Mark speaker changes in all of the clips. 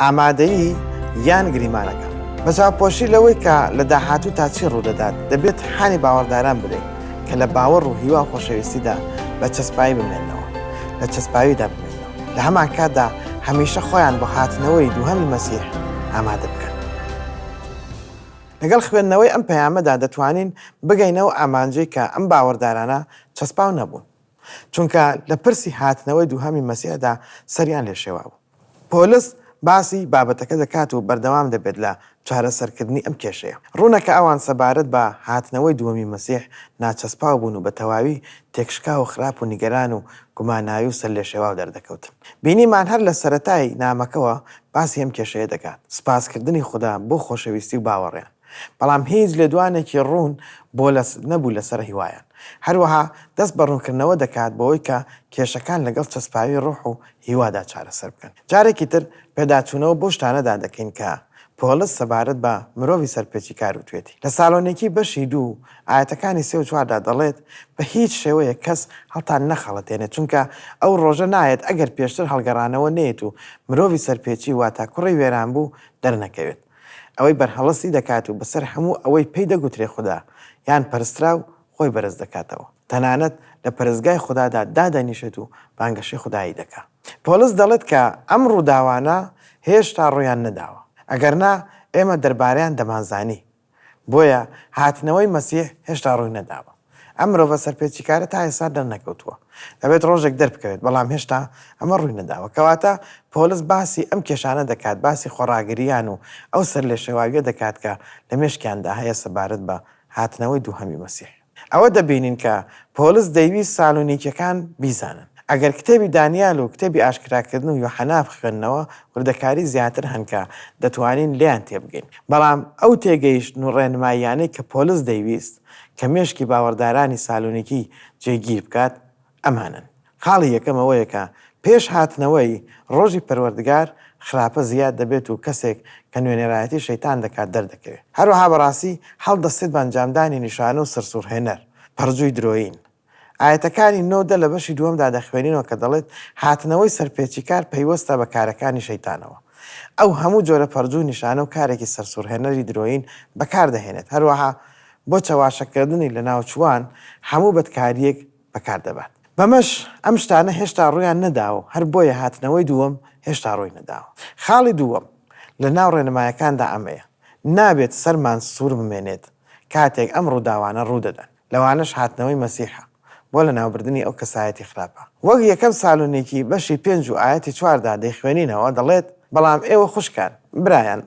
Speaker 1: ئامادەیی یان گریمانەکە بە چاوپۆشی لەوەی کە لە داهاتوو تا چی ڕوودەدات دەبێت حانی باوەڕداران بدەین کە لە باوەڕ و هیوا خۆشەویستیدا بە چەسپایی بمێنەوە لە چەسپاویدا بمێنەوە لە هەمان کاتدا هەمیشە خۆیان بۆ هاتنەوەی دووهەمی مەسیح ئامادە بکەن لەگەڵ خوێندنەوەی ئەم پەیامەدا دەتوانین بگەینەوە ئامانجەی کە ئەم باوەڕدارانە چەسپاو نەبوون چونکە لە پرسی هاتنەوەی دووهەمی مەسیحدا سەریان لێ شێوابوو. پۆلس باسی بابەتەکە دەکات و بەردەوام دەبێت لە چارەسەرکردنی ئەم کێشەیە. ڕوونە کە ئەوان سەبارەت بە هاتنەوەی دووەمی مەسیح ناچەسپاو بوون و بە تەواوی تێکشکاو و خراپ و نیگەران و گوماناوی و سەرلێشێواو دەردەکەوتن. بینیمان هەر لە سەرەتای نامەکەوە باسی ئەم کێشەیە دەکات، سپاسکردنی خودا بۆ خۆشەویستی و باوەڕیان. بەڵام هیچ لێدوانێکی ڕوون بۆ لە نەبوو لەسەر هیوایان. هەروەها دەست بە ڕوونکردنەوە دەکات بەوەی کە کێشەکان لەگەڵ چەسپاوی ڕوح و هیوادا چارەسەر بکەن. جارێکی تر پێداچوونەوە بەو شتانەدا دەکەین کە پۆڵس سەبارەت بە مرۆڤی سەرپێچیکار وتوێتی. لە سالۆنیکی بەشی دوو ئایەتەکانی سێ و چواردا دەڵێت، بە هیچ شێوەیەک کەس هەڵتان نەخەڵەتێنێت، چونکە ئەو ڕۆژە نایەت ئەگەر پێشتر هەڵگەڕانەوە نەیەت و مرۆڤی سەرپێچی واتا کوڕی وێرانبوو دەرنەکەوێت. ئەوەی بەرهەڵستی دەکات و بەسەر هەموو ئەوەی پێی دەگوترێ خودا یان پەرستراو خۆی بەرز دەکاتەوە، تەنانەت لە پەرستگای خودادا دادەنیشێت و بانگەشەی خودایی دەکا. پۆڵس دەڵێت کە ئەم ڕووداوانە هێشتا ڕوویان نەداوە، ئەگەرنا ئێمە دەربارەیان دەمانزانی، بۆیە هاتنەوەی مەسیح هێشتا ڕووی نەداوە. ئەم مرۆڤە سەرپێچیکارە تا ئێستا دەرنەکەوتووە. دەبێت ڕۆژێک دەربکەوێت، بەڵام هێشتا ئەمە ڕووی نەداوە. کەواتە پۆلس باسی ئەم کێشانە دەکات، باسی خۆڕاگرییان و ئەو سەرلێشێواوییە دەکات کە لە مێشکیاندا هەیە سەبارەت بە هاتنەوەی دووهەمی مەسیح. ئەوە دەبینین کە پۆلس دەیویست سالونیکییەکان بیزانن. ئەگەر کتێبی دانیال و کتێبی ئاشکراکردن و یوحەنا بخوێننەوە، وردەکاریی زیاتر هەن کە دەتوانین لێیان تێبگەین. بەڵام ئەو تێگەیشتن و ڕێنماییانەی کە پۆلس دەیویست، کە مێشکی باوەڕدارانی سالۆنیکی جێگیر بکات، ئەمانەن، خاڵی یەکەم ئەوەیە کە پێش هاتنەوەی ڕۆژی پەروەردگار خراپە زیاد دەبێت و کەسێک کە نوێنەرایەتی شەیتان دەکات دەردەکەوێت. هەروەها بەڕاستی هەڵدەستێت بە ئەنجامدانی نیشانە و سەرسوڕهێنەر، پەڕجووی درۆیین، ئایەتەکانی نۆ دە لە بەشی دووەمدا دەخوێنینەوە کە دەڵێت، هاتنەوەی سەرپێچیکار پەیوەستە بە کارەکانی شەیتانەوە. ئەو هەموو جۆرە پەڕجوو نشانە و کارێکی سەرسوڕهێنەری درۆیین بەکار دەهێنێت، هەروەها بۆ چەواشەکردنی لەناوچووان هەموو بەدکارییەک بەکار دەبات. بەمەش ئەم شتانە هێشتا ڕوویان نەداوە و هەر بۆیە هاتنەوەی دووەم هێشتا ڕووی نەداوە. خاڵی دووەم لە ناو ڕێنمایەکاندا ئەمەیە، نابێت سەرمان سوور بمێنێت کاتێک ئەم ڕووداوانە ڕوو دەدەن. لەوانەش هاتنەوەی مەسیحە بۆ لەناوبردنی ئەو کەسایەتی خراپە. وەک یەکەم سالونیکی بەشی پێنج و ئایەتی چوار دا دەیخوێنینەوە دەڵێت، بەڵام ئێوە خوشکان، برایان،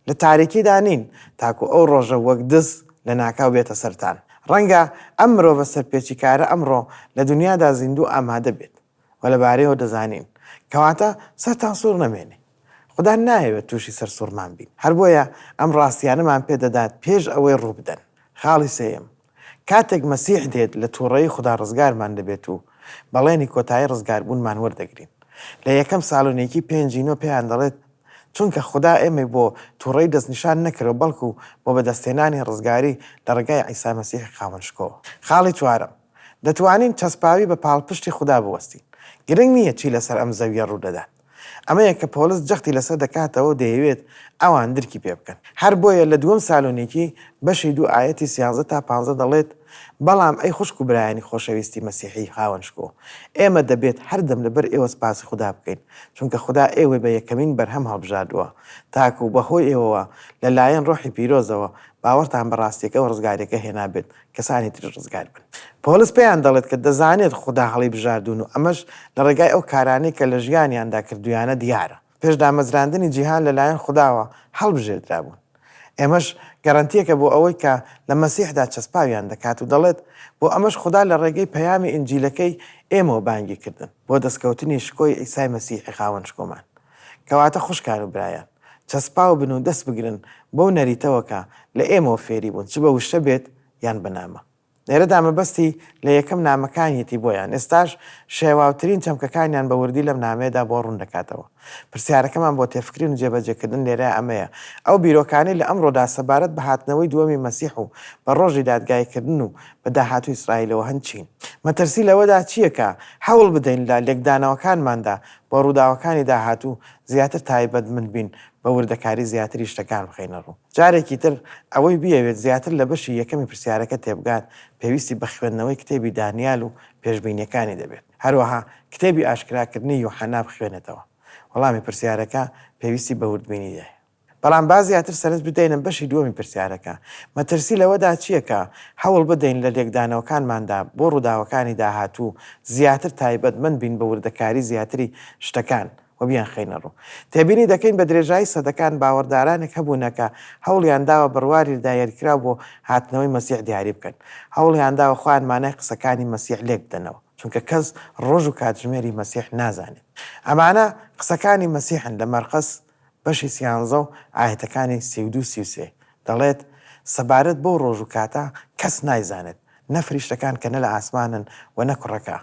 Speaker 1: لە تاریکیدا نین تاکو ئەو ڕۆژە وەک دز لەناکاو بێتە سەرتان. ڕەنگە ئەم مرۆڤە سەرپێچیکارە ئەمڕۆ لە دونیادا زیندوو ئامادە بێت. و لە بارەیەوە دەزانین. کەواتە سەرتان سوڕ نەمێنێ. خودا نایەوێت تووشی سەرسوڕمان بین. هەر بۆیە ئەم ڕاستییانەمان پێ دەدات پێش ئەوەی ڕووبدەن. خاڵی سێیەم، کاتێک مەسیح دێت لە تووڕەیی خودا ڕزگارمان دەبێت و بەڵێنی کۆتایی ڕزگاربوونمان وەردەگرین. لە یەکەم سالۆنیکی پێنجی نۆ پێیان دەڵێت، چونکە خودا ئێمەی بۆ تووڕەیی دەستنیشان نەکردەوە بەڵکو بۆ بەدەستهێنانی ڕزگاری لە ڕێگای عیسا مەسیحی خاوەن شکۆوە. خاڵی چوارەم، دەتوانین چەسپاوی بە پاڵپشتی خودا بوەستین، گرنگ نییە چی لەسەر ئەم زەوییە ڕوو دەدات. ئەمەیە کە پۆڵس جەختی لەسەر دەکاتەوە و دەیەوێت ئەوان درکی پێ بکەن. هەر بۆیە لە دووەم سالۆنیکی بەشی دوو ئایەتی سیانزە تا پانزە دەڵێت، بەڵام ئەی خوشک و برایانی خۆشەویستی مەسیحیی خاوەن شکۆ، ئێمە دەبێت هەردەم لەبەر ئێوە سپاسی خودا بکەین، چونکە خودا ئێوەی بە یەکەمین بەرهەم هەڵبژاردووە، تاکوو بەهۆی ئێوەوە لەلایەن ڕۆحی پیرۆزەوە باوەڕتان بە ڕاستییەکە و ڕزگارییەکە هێنابێت کەسانی تریش ڕزگار بن. پۆلس پێیان دەڵێت کە دەزانێت خودا هەڵیبژاردوون و ئەمەش لە ڕێگای ئەو کارانەی کە لە ژیانیاندا کردوویانە دیارە. پێش دامەزراندنی جیهان لەلایەن خوداوە هەڵبژێردرابوون. ئەمەش گەرەنتییەکە بۆ ئەوەی کە لە مەسیحدا چەسپاویان دەکات و دەڵێت، بۆ ئەمەش خودا لە ڕێگەی پەیامی ئینجیلەکەی ئێمەوە بانگی کردن بۆ دەستکەوتنی شکۆی عیسای مەسیحی خاوەن شکۆمان، کەواتە خوشکان و برایان. چەسپاو بن و دەست بگرن بەو نەریتەوە کە لە ئێمەوە فێری بوون چ بە وشە بێت یان بە نامە. لێرەدا مەبەستی لە یەکەم نامەکانیەتی بۆیان ئێستاش شێواوترین چەمکەکانیان بە وردی لەم نامەیەدا بۆ ڕوون دەکاتەوە. پرسیارەکەمان بۆ تێفکرین و جێبەجێکردن لێرە ئەمەیە، ئەو بیرۆکانەی لە ئەمڕۆدا سەبارەت بە هاتنەوەی دووەمی مەسیح و بە ڕۆژی دادگایکردن و بە داهاتووی ئیسرائیلەوە هەن چین؟ مەترسی لەوەدا چییە کە هەوڵ بدەین لە لێکدانەوەکانماندا بۆ ڕووداوەکانی داهاتوو زیاتر تایبەتمند بین، بە وردەکاری زیاتری شتەکان بخەینە ڕوو. جارێکی تر، ئەوەی بیەوێت زیاتر لە بەشی یەکەمی پرسیارەکە تێبگات، پێویستی بە خوێندنەوەی کتێبی دانیال و پێشبینییەکانی دەبێت. هەروەها کتێبی ئاشکراکردنی یوحەنا بخوێنێتەوە. وەڵامی پرسیارەکە پێویستی بە وردبینی هەیە. بەڵام با زیاتر سەرنج بدەینە بەشی دووەمی پرسیارەکە، مەترسی لەوەدا چییە کە هەوڵ بدەین لە لێکدانەوەکانماندا بۆ ڕووداوەکانی داهاتوو زیاتر تایبەتمەند بین بە وردەکاری زیاتری شتەکان و بیانخەینە ڕوو؟ تێبینی دەکەین بە درێژایی سەدەکان باوەڕدارانێک هەبوونە کە هەوڵیان داوە بڕواری دایەرکراو بۆ هاتنەوەی مەسیح دیاری بکەن، هەوڵیان داوە خۆیان مانای قسەکانی مەسیح لێک بدەنەوە، چونکە کەس ڕۆژ و کاتژمێری مەسیح نازانێت. ئەمانە قسەکانی مەسیحن لە مەرقس بەشی سیانزە و ئایەتەکانی سی و دوو سی و سێ، دەڵێت، سەبارەت بەو ڕۆژ و کاتە کەس نایزانێت، نە فریشتەکان کە نە لە ئاسمانن و نە کوڕەکە،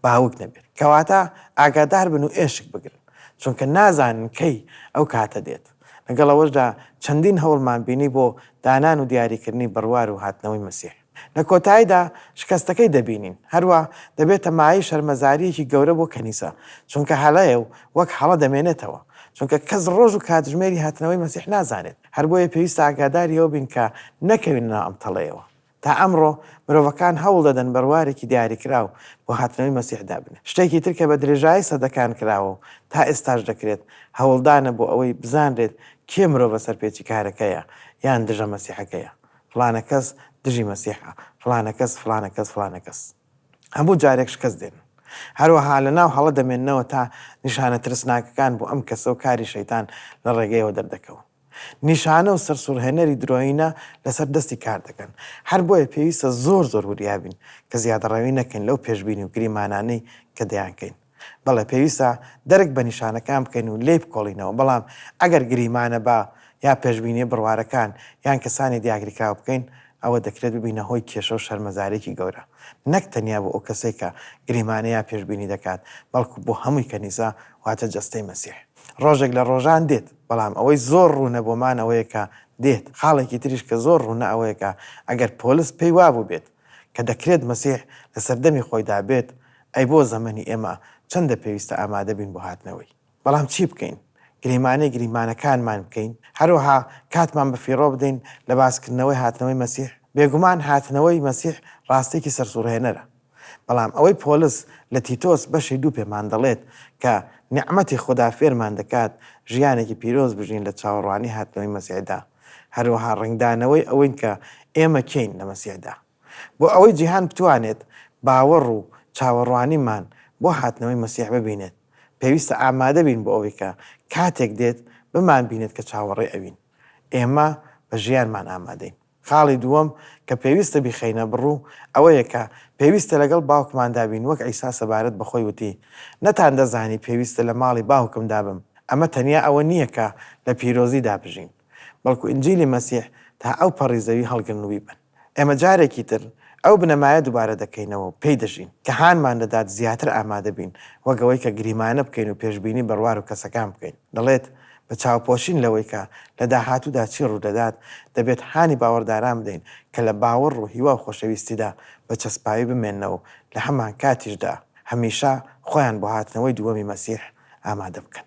Speaker 1: باوک نەبێت، کەواتە ئاگادار بن و ئێشک بگرن، چونکە نازانن کەی ئەو کاتە دێت، لەگەڵ ئەوەشدا چەندین هەوڵمان بینی بۆ دانان و دیاریکردنی بڕوار و هاتنەوەی مەسیح. لە کۆتاییدا شکەستەکەی دەبینین، هەروا دەبێتە مایەی شەرمەزارییەکی گەورە بۆ کەنیسە، چونکە هەڵەیە و وەک هەڵە دەمێنێتەوە، چونکە کەس ڕۆژ و کاتژمێری هاتنەوەی مەسیح نازانێت، هەر بۆیە پێویستە ئاگاداری ئەوە بین کە نەکەوینە ناو ئەم تەڵەیەوە. تا ئەمڕۆ مرۆڤەکان هەوڵ دەدەن بەروارێکی دیاریکراو بۆ هاتنەوەی مەسیح دابنێن، شتێکی تر کە بە درێژایی سەدەکان کراوە و تا ئێستاش دەکرێت، هەوڵدانە بۆ ئەوەی بزانرێت کێ مرۆڤە سەرپێچیکارەکەیە یان دژە مەسیحەکەیە، فڵانە کەس دژی مەسیحە، فڵانە کەس، فڵانە کەس، فڵانە کەس. هەموو جارێک شکەست دێنن. هەروەها لەناو هەڵە دەمێننەوە تا نیشانە ترسناکەکان بۆ ئەم کەسە و کاری شەیتان لە ڕێگەیەوە دەردەکەون. نیشانە و سەرسوڕهێنەری درۆیینە لەسەر دەستی کار دەکەن. هەر بۆیە پێویستە زۆر زۆر وریا بین کە زیادەڕەوی نەکەین لەو پێشبینی و گریمانانەی کە دەیانکەین. بەڵێ پێویستە دەرک بە نیشانەکان بکەین و لێی بکۆڵینەوە، بەڵام ئەگەر گریمانە با یا پێشبینییە بڕوارەکان یان کەسانی دیاگریکراو بکەین، ئەوە دەکرێت ببینە هۆی کێشە و شەرمەزارییەکی گەورە، نەک تەنیا بۆ ئەو کەسەی کە گریمانە یا پێشبینی دەکات، بەڵکو بۆ هەمووی کەنیسە، واتە جەستەی مەسیح. ڕۆژێک لە ڕۆژان دێت، بەڵام ئەوەی زۆر ڕوونە بۆمان ئەوەیە کە دێت، خاڵێکی تریش کە زۆر ڕوونە ئەوەیە کە ئەگەر پۆلس پێی وابووبێت کە دەکرێت مەسیح لە سەردەمی خۆیدا بێت، ئەی بۆ زەمەنی ئێمە چەندە پێویستە ئامادە بین بۆ هاتنەوەی؟ بەڵام چی بکەین؟ گریمانەی گریمانەکانمان بکەین؟ هەروەها کاتمان بە فیڕۆ بدەین لە باس کردنەوەی هاتنەوەی مەسیح؟ بێگومان هاتنەوەی مەسیح ڕاستیەکی سەرسوڕهێنەرە، بەڵام ئەوەی پۆلس لە تیتۆس بەشی دوو پێمان دەڵێت کە نیعمەتی خودا فێرمان دەکات ژیانێکی پیرۆز بژین لە چاوەڕوانی هاتنەوەی مەسیحدا، هەروەها ڕەنگدانەوەی ئەوەین کە ئێمە کێین لە مەسیحدا. بۆ ئەوەی جیهان بتوانێت باوەڕ و چاوەڕوانیمان بۆ هاتنەوەی مەسیح ببینێت، پێویستە ئامادە بین بۆ ئەوەی کە کاتێک دێت بمانبینێت کە چاوەڕێی ئەوین. ئێمە بە ژیانمان ئامادەین. خاڵی دووەم کە پێویستە بیخەینە بڕوو ئەوەیە کە پێویستە لەگەڵ باوکماندا بین، وەک عیسا سەبارەت بە خۆی وتی، نەتاندەزانی پێویستە لە ماڵی باوکمدا بم. ئەمە تەنیا ئەوە نییە کە لە پیرۆزیدا بژین. بەڵکو ئینجیلی مەسیح تا ئەو پەڕی زەوی هەڵگرنووی بن. ئێمە جارێکی تر ئەو بنەمایە دووبارە دەکەینەوە و پێی دەژین، کە هانمان دەدات زیاتر ئامادە بین، وەک ئەوەی کە گریمانە بکەین و پێشبینی بەڕوار و کەسەکان بکەین. دەڵێت، بە چاوپۆشین لەوەی کە لە داهاتوودا چی ڕوودەدات، دەبێت هانی باوەڕداران بدەین کە لە باوەڕ و هیوا و خۆشەویستیدا بە چەسپاوی بمێننەوە و لە هەمانکاتیشدا هەمیشە خۆیان بۆ هاتنەوەی دووەمی مەسیح ئامادە بکەن.